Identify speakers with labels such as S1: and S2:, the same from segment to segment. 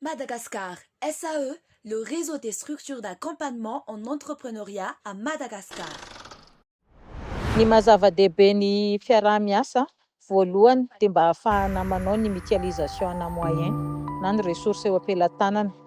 S1: Madagascar SAE, le réseau des structures d'accompagnement en entrepreneuriat à Madagascar. Ny maha zava-dehibe ny fiaraha-miasa voalohany dia mba ahafahana manao ny mutualisation ana moyens na ny ressources eo am-pelatanana.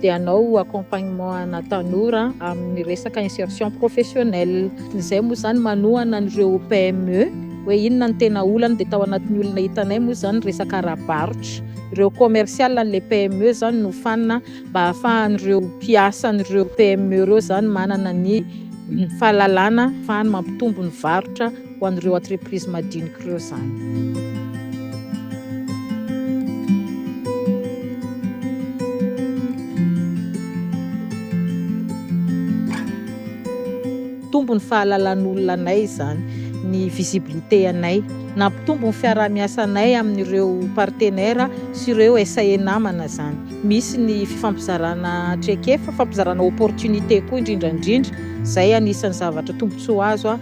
S1: dia hanao accompagnement ana tanora amin'ny resaka insertion professionnelle. Izay moa izany manohana an'ireo PME hoe inona no tena olany dia tao anatin'ny olona hitanay moa izany resaka ara-barotra. Ireo commercial an'ilay PME izany no hofanina mba hahafahan'ireo mpiasan'ireo PME ireo izany manana ny fahalalana ahafahany mampitombo ny varotra. ho an'ireo entreprise madinika ireo izany. Nitombo ny fahalalan'olona anay izany, ny visibilité anay. Nampitombo ny fiaraha-miasanay amin'ireo partenaires sy ireo SAE namana izany. Misy ny fifampizarana traikefa, fifampizarana opportunité koa indrindra indrindra. Izay anisan'ny zavatra tombontsoa azo.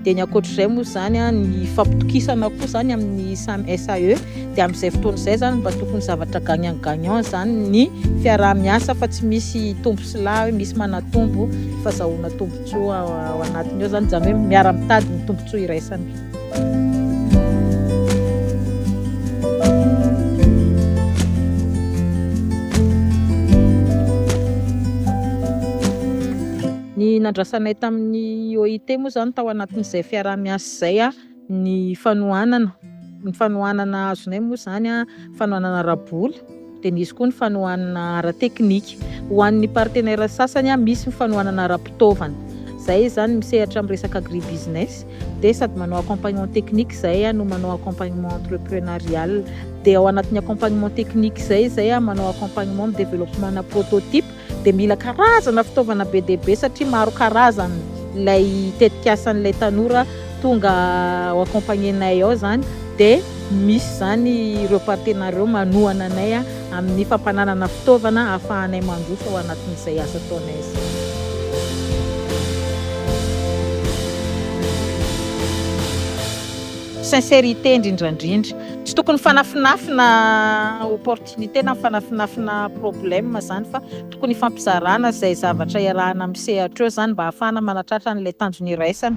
S1: Dia ny ankoatr'izay moa izany, ny fampitokisana koa izany amin'ny samy SAE, dia amin'izay fotoana izay izany mba tokony zavatra gagnant gagnant izany ny fiaraha-miasa fa tsy misy tombo sy lahy hoe misy manatombo fa azahoana tombontsoa ao anatiny ao izany, izany hoe miara-mitady ny tombontsoa iraisana. Ny nandrasanay tamin'ny OIT moa izany tao anatin'izay fiaraha-miasa izay ny fanohanana, ny fanohanana azonay moa izany fanohanana ara-bola dia nisy koa ny fanohanana ara-teknika. Ho an'ny partenaires sasany misy ny fanohanana ara-pitaovana. Izay izany misehatra amin'ny resaka agribusiness dia sady manao accompagnement technique izay no manao accompagnement entreprenarial. Dia ao anatin'ny accompagnement technique izay izay manao accompagnement amin'ny développement-na prototype. dia mila karazana fitaovana be dia be satria maro karazany ilay tetikasan'ilay tanora tonga ho accompagner anay ao izany dia misy izany ireo partenaires ireo manohana anay amin'ny fampananana fitaovana ahafahanay mandroso ao anatin'izay asa ataonay izay. Sincérité indrindrandrindra, tsy tokony fanafinafina ho porte Ny tena mifanafinafina problème zany fa tokony hifampizarana izay zavatra iarahana amin'ny sehatra eo zany mba hahafahana manatratra an'ilay tanjona iraisana.